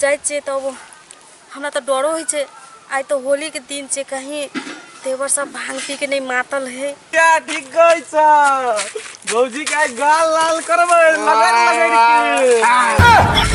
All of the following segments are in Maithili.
जाइ छियै तब हमरा तऽ डरो होइ छै आइ तऽ होलीके दिन छै कहीं देवर सब भांग पी के नहि मातल है क्या ठीक कहै छ भौजी के आइ गाल लाल करबै लगड़ लगड़ के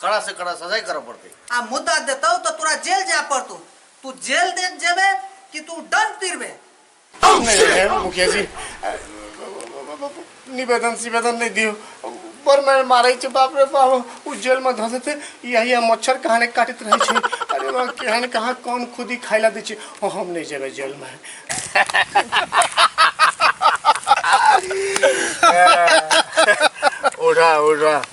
कड़ा से कड़ा सजाई करे पड़ते आ मुद्दा देतौ तो तोरा जेल जाए पड़तौ तू जेल देख जेबे कि तू दंड पीरबे मुखिया जी निवेदन सिवेदन नहीं दियो पर मैं मारे छे बाप रे बाप उ जेल में धस देते यही हम मच्छर कहाने काटत रहे छे अरे वाह केहन कहाँ कौन खुदी खाइला दे छे ओ हम नहीं जेबे जेल में उड़ा उड़ा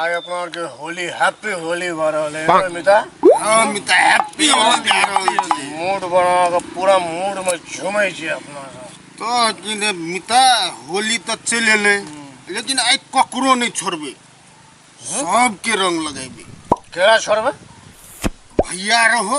आज अपना आर के होली हैप्पी होली भऽ रहल है ना मिता हम तऽ हैप्पी हो जा रहल छी मूड बना के पूरा मूड में झूमै छी अपना सब तऽ की ने मिता होली तऽ चलि एलै लेकिन आइ ककरो नहि छोड़बै सबके रंग लगेबै केरा छोड़बै भैया रहो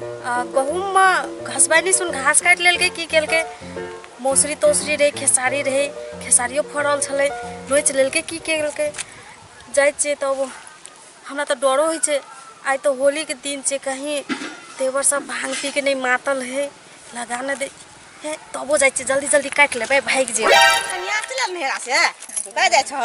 आ, गहूँममे घसबैनी सुन घास काटि लेलकै की केलकै मौसरी तौसरी रहै खेसारी रहै खेसारियो फड़ल छलै नोचि लेलकै की केलकै जाइ छियै तब हमरा तऽ डरो होइ छै आइ तऽ होलीके दिन छै कहीं देवर सब भांग पी के नहि मातल है लगा नहि दे हे तबो जाइ छियै जल्दी जल्दी काटि लेबै भागि जेबै कनिया चलल नहेरा से कतऽ जाइ छह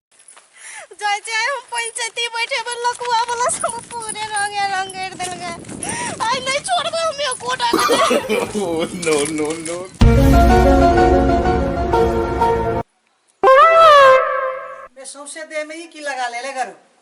जाइ छै हम पंचायती बैठे पर लकुआ वाला सब पूरे रंगे रंगेर देल गए आइ नहीं छोड़बे हम यो कोटा नो नो नो सौंसे देह में ही की लगा ले ले करू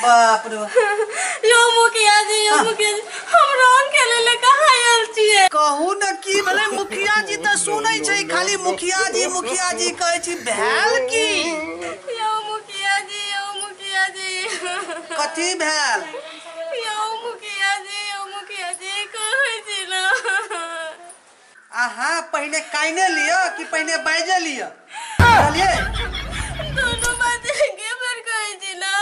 बाप रे यो मुखिया जी यो हाँ। मुखिया जी हम रंग खेले ले कहा आयल छिए कहू न की भले मुखिया जी त सुनै छै खाली मुखिया जी मुखिया जी कहै छी भेल की यो मुखिया जी यो मुखिया जी कथी भेल अहाँ पहिने काइने लिअ कि पहिने बाजे लिअ बुझलियै दोनों बात एके बेर कहै छी ना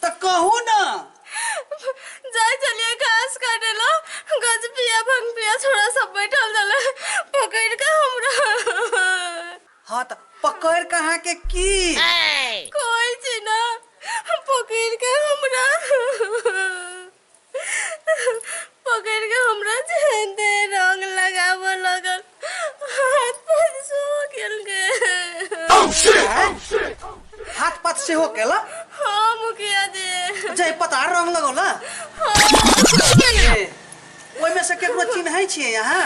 तऽ कहू ना जाय चलिए घास काटे लो गज पिया भंग पिया छोरा सब बैठल रहले पकड़ के हमरा हाँ त पकड़ कहाँ के की कोई छी ना पकड़ के हमरा पकड़ के हमरा जेते रंग लगाव लगल हाथ पर सो गेल के हाथ पात से हो गेला हाँ मुखिया जी जय पता रंग लगौला ए, ओहिमे से केकरो चिन्है छियै यहाँ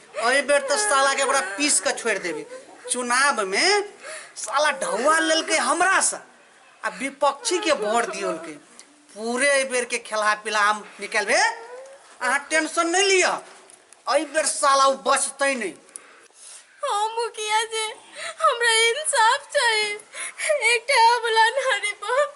अई बेर तो साला के बड़ा पीस के छोड़ देबी चुनाव में साला ढौआ लेलके हमरा से आ विपक्षी के वोट दियल के पूरे अई बेर के खेला पिला हम निकलबे अहाँ टेंशन नहीं लिया अई बेर साला उ बचते नहीं हाँ मुखिया जी हमरा इंसाफ चाहिए एक ठे अबला नारी पर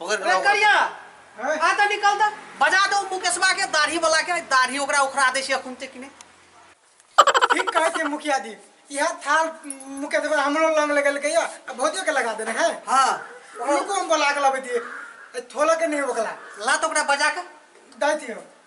पकड़ के रे लाओ। करिया हैं? आ त निकल त बजा दो मुकेशवा के दाढ़ी वाला के दाढ़ी ओकरा उखड़ा दे छै अखुन ते किने ठीक कहै छै मुखिया जी इहे थाल मुकेश बा हमरो लंग लगल गया आ भौजियो के लगा देना है हां उनको हम बोला के लबै दिए ए, थोला के नहीं ओकला ला तो ओकरा बजा के दाइ दियो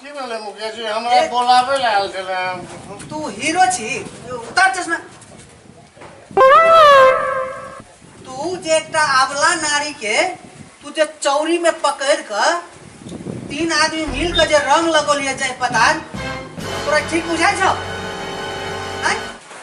की भेलै मुखिया जी हमरा ए- बोलाबै लए आयल छलै हम तू हीरो छी उतार चश्मा तू जे एकटा आबला नारी के तू जे चौरी में पकड़ क तीन आदमी मिल के जे रंग लगोलिए जाए पता तोरा ठीक बुझाई छौ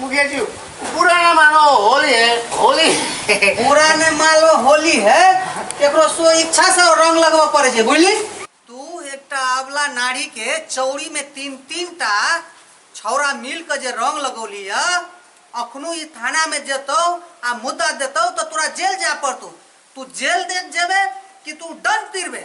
मुकेशजी पुराना मानो होली है होली पुराने मालो होली है एकरो सो इच्छा से रंग लगवा पड़े छै बुझली तू एकटा अबला नारी के चौड़ी में तीन तीन टा छौरा मिल के जे रंग लगौली है अखनो ई थाना में जेतौ आ मुद्दा देतौ तो तोरा जेल जाय पड़तौ तू जेल दे जेबे कि तू दंड पीरबे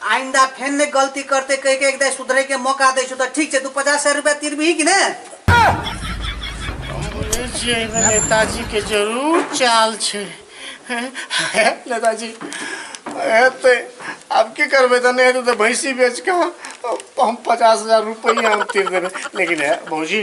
आइन्दा फेन नहि गलती करते कहि के एक दाइ सुधरे के मौका दै छौ तऽ ठीक छै तू पचास हजार रुपया तिरबिही कि ने बोले छियै एहिमे नेताजी के जरूर चाल छै नेताजी हेतै आब की करबै तऽ नहि हेतै तऽ भैंसी बेच कऽ हम पचास हजार रुपैआ हम तीर देबै लेकिन हे भौजी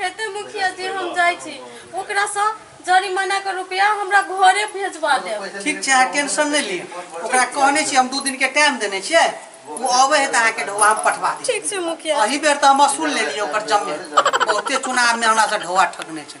हेतै मुखिया जी हम जाइ छी ओकरासँ जरिमानाके रुपैआ हमरा घरे भेजबा देब ठीक छै अहाँ टेंशन नहि ली ओकरा कहने छी हम दू दिनके टाइम देने छियै ओ अबै है तऽ अहाँके ढौआ हम पठवा दी ठीक छै मुखिया एहि बेर तऽ हम असूल लेलियै ओकर जमीन बहुते चुनावमे हमरासँ ढौआ ठकने छै